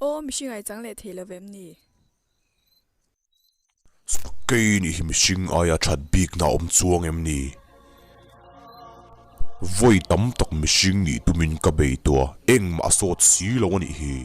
Aw mihring ai chang leh thei lovem ni. Kei nih hi mihring aia that bikna a awm chuang em ni? Vawi tam tak mihring nih tumin ka bei tawh a, engmah a sawt si lo anih hi.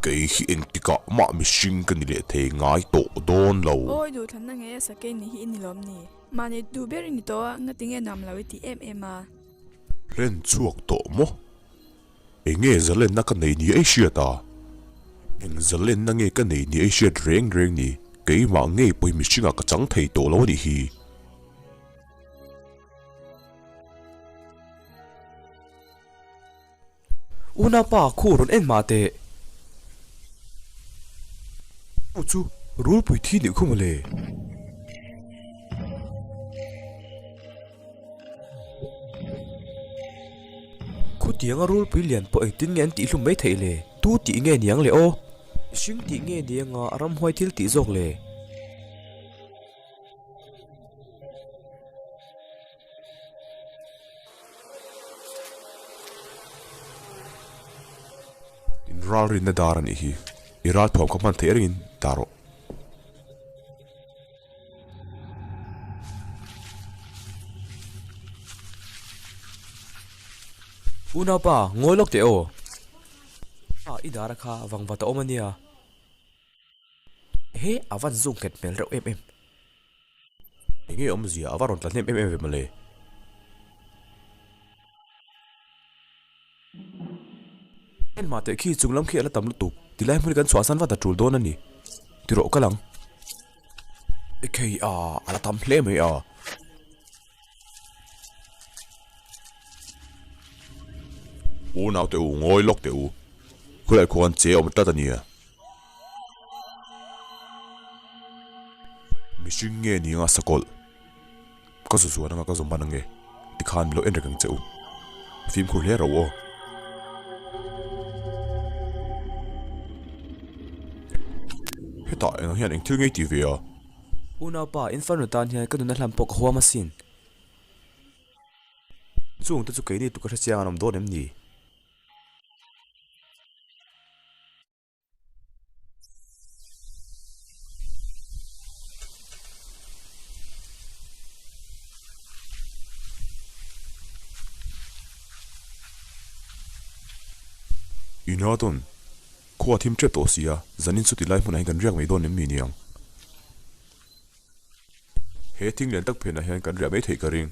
Kei hi engtikah mah mihring ka ni leh thei ngai tawh dawn lo. Aw i duh thlanna nge asa kei nih hi i ni lawm ni? Mah ni duh ber i ni tawh a, ngatinge nuam lo i tih em em a. Hlen chhuak tawh maw? Eng nge zalenna ka neih nia i hriat a? Eng zalenna nge ka neih nia i hriat reng reng ni? Keimah ngei pawhin mihringah ka chang thei tawh lo a nih hi. Una pa, khu rawn en mah teh. Khu chu rulpui thi nih khawm a le. Khutianga rulpui lian pawh engtin nge an tih hlum mai theih le? Tu tih nge niang le aw? Hring tih nge nianga a ramhuai thil tih zawk le? In ralrinna dar a nih hi, i ral thuam kha hman theih erin dar aw. U naupa ngawi lawk teh aw pa i dar a kha vang vat a awm a nia he a van zung nghet hmel reuh em em eng nge awmzia a va rawn tla hnem em em ve mawle. Heng hma teh khi chunglam khi a la tam lutuk, tilai hmun hi kan chhuah san vat a tul dawn a ni ti rawh ka lang. Ekei a, a la tam hle mai a. U naute u, ngawi lawk teh u, khulai khuak an che awm tlat a nia. Mihring nge ni anga sakawlh. Ka zuzuan anga ka zawm man ange tikhan min lo en reng reng che u. Fimkhur hle rau aw. Hetah engah hian eng thil ngei tih ve a? Unaupa, inferno tan hian ka nuna hlan pawh ka huam asin. Chung te chu keini tu ka hre chiang an awm dawn em ni? Ina dawn, khaw a thim ṭep tawh si a, zanin chuti lai hmunah hian kan riak mai dawn em ni niang? He thing lian tak phenah hian kan riah mai theih ka ring.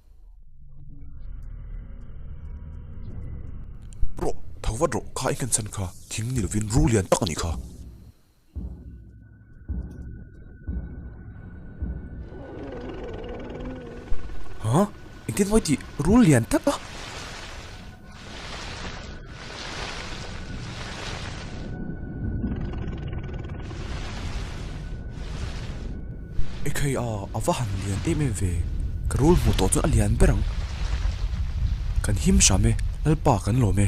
Rawh, tho vat rawh, kha engkan chhan kha thing ni lovin ru lian tak a nih kha. Hah? Engtin mawi tih ru lian tak a? Ekei a a va han lian em em ve ka rul hmuh tawh chuan a lian ber ang kan him hram e lalpa kan lawm e.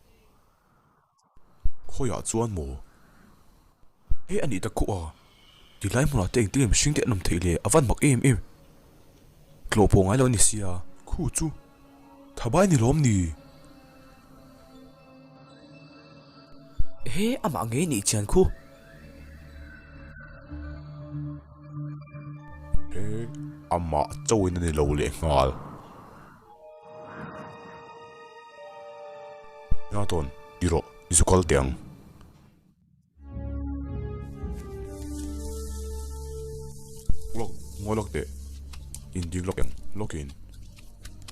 Khawiah chuan maw he anih ta khawh a, ti lai hmunah te engtin nge mihring te an awm theih leh a van mak em em. Tlawh pawh ngailo ani sia. Khu chu Thabai ni lawm ni? He amah ngei nih chian khu. He amah chauhin ani lo leh nghal. Hna tawn i rawh, i zu kal teh ang. Lock, ngawi lock teh. In ding lock ang, lock in.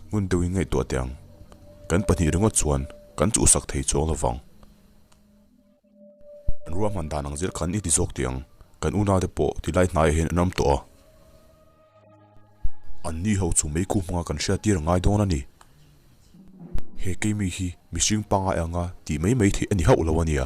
Ngun deuh in ngaihtuah teh ang. Kan pahnih ringawt chuan kan chuhsak thei chuang lovang. Ruahman dan ang zel kan i ti zawk tih ang. Kan una te pawh ti lai hnaiah hian an awm tawh a. An ni ho chu mei kuk hmanga kan hria tir a ngai dawn a ni. He keimi hi mihring pangai anga tih mai mai theih a ni hauh lo a nia.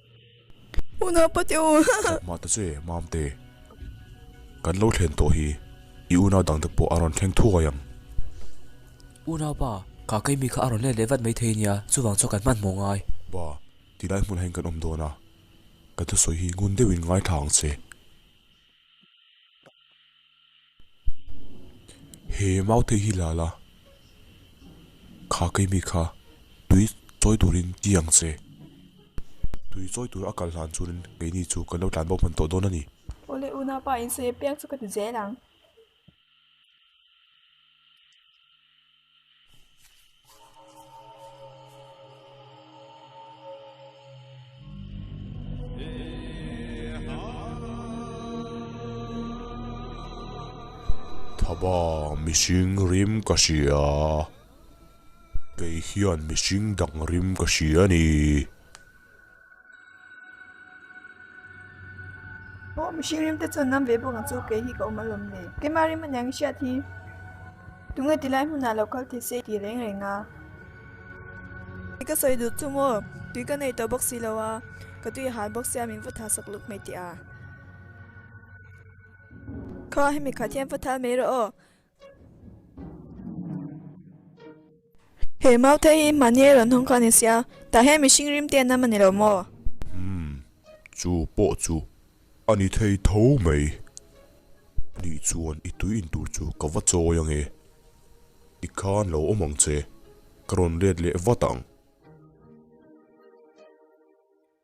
Una pate u. Chawp mah ta che mam te. Kan lo thlen tawh hi i unau dang te pawh a rawn thleng thuai ang. Unau pa, ka kei mi kha a rawn let leh vat mai thei nia, chuvang chuan kan hmanhmawh ngai. Ba, tilai hmunah hian kan awm dawn a, kan thusawi hi ngun deuhin ngaithla ang che. He Mauthei hi lala kha keimi kha tui chawi turin ti ang che. Tui chawi tur a kal hlan chuan keini chu kan lo tlan bo hman tawh dawn a ni. Awle Unapa insawi a piak chu ka ti zel ang. Thaba mihring rim ka hria, kei hian mihring dang rim ka hria a ni. Aw mihring rimte chuan lam ve bawkah chu kei hi ka awm alawm le. Keimah rim aniang i hriat hi tunge tilai hmunah lo kal thei se i ti reng reng a. I ka sawi duh chu maw? Tui ka nei tawh bawk si lo a, ka tui a hal bawk se a min va tha sak lut mai teh a. Kha hemi khat hian va thal mai rawh aw. He Maute hi mahniai rawn hawng kha a ni sia, tah hian mihring rim te an awm a ni lo maw? Umm, chu pawh chu a ni thei tho mai. Nih chuan i tui in tur chu ka va chawi ange, ti khan lo awm ang che, ka rawn let leh vat ang.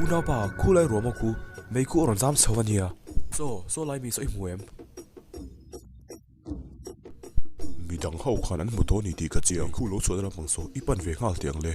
U naupa, khu lai ruah maw khu? Mei khu a rawn zam chho a nia. Chaw, chaw lai mi saw i hmu em? Mi dang ho khan an hmu tawh a ni tih ka chiang. Mei khu lo chhuah na lampang saw i pan ve nghal teh ang le.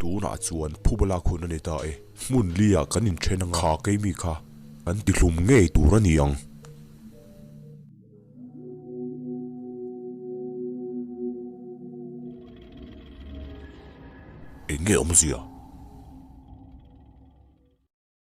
tunah chuan phubala khun a ni ta e, hmun lia kan inthen anga kha keimi kha kan tihlum ngei tur a ni ang. Eng nge awmzia?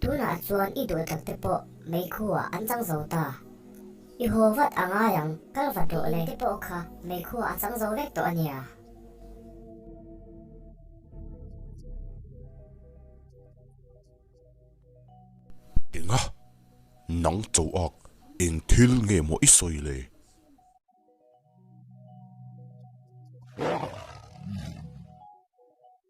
Tunah chuan i duhtlak te pawh meikhua an chang zo ta. I haw vat a ngai ang, kal va tawh le. Te pawh kha meikhua a chang zo vek tawh a nia. Enga? Nang chaw ak eng thil nge maw i sawi le?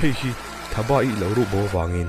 hei hi thaba i lo ruh bo vangin.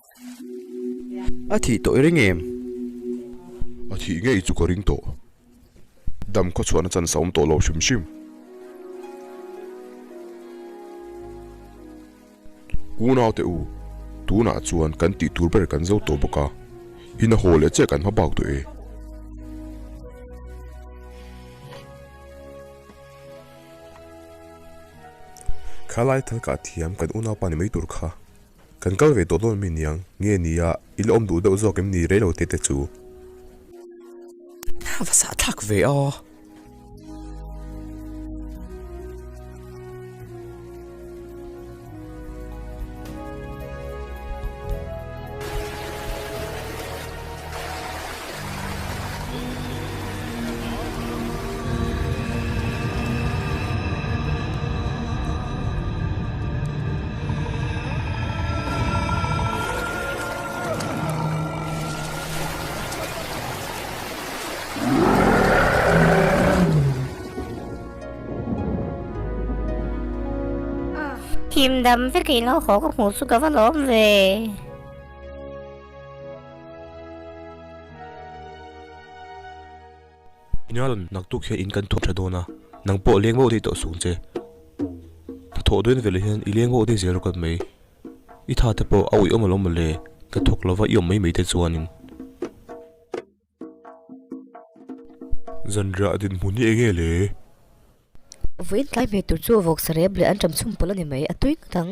a thih tawh i ring em? A thih ngei chu ka ring tawh. Dam khaw chhuahna chan sawm tawh lo hrim hrim. Unaute u, tunah chuan kan tih tur ber kan zo tawh bawk a, ina haw leh chiah kan hma bak tawh e. Khalai thal kah thiam kan unaupa ni mai tur kha. Kan kal ve tawh dawn mai niang, nge ni a, i la awm duh deuh zawk em ni rei lo tete chu. A va sah thlak ve aw. Himdam vekin lo haw ka hmuh chu ka va lawm ve. Ina rawn naktuk hian in kan thawhtha dawn a, nang pawh leng vau dei tawh sung che. Hnathawh dawn veleh hian i leng vau dei zel rawh kan mai. I tha te pawh a uiawm alawm mawle, ka thawk lova i awm mai mai te chuanin. Zanriah dinhmun hi enge le? Vawiin tlai hmeh tur chu a vawk sarep leh an ṭam chhum pawlh a ni mai, a tui ngawt ang.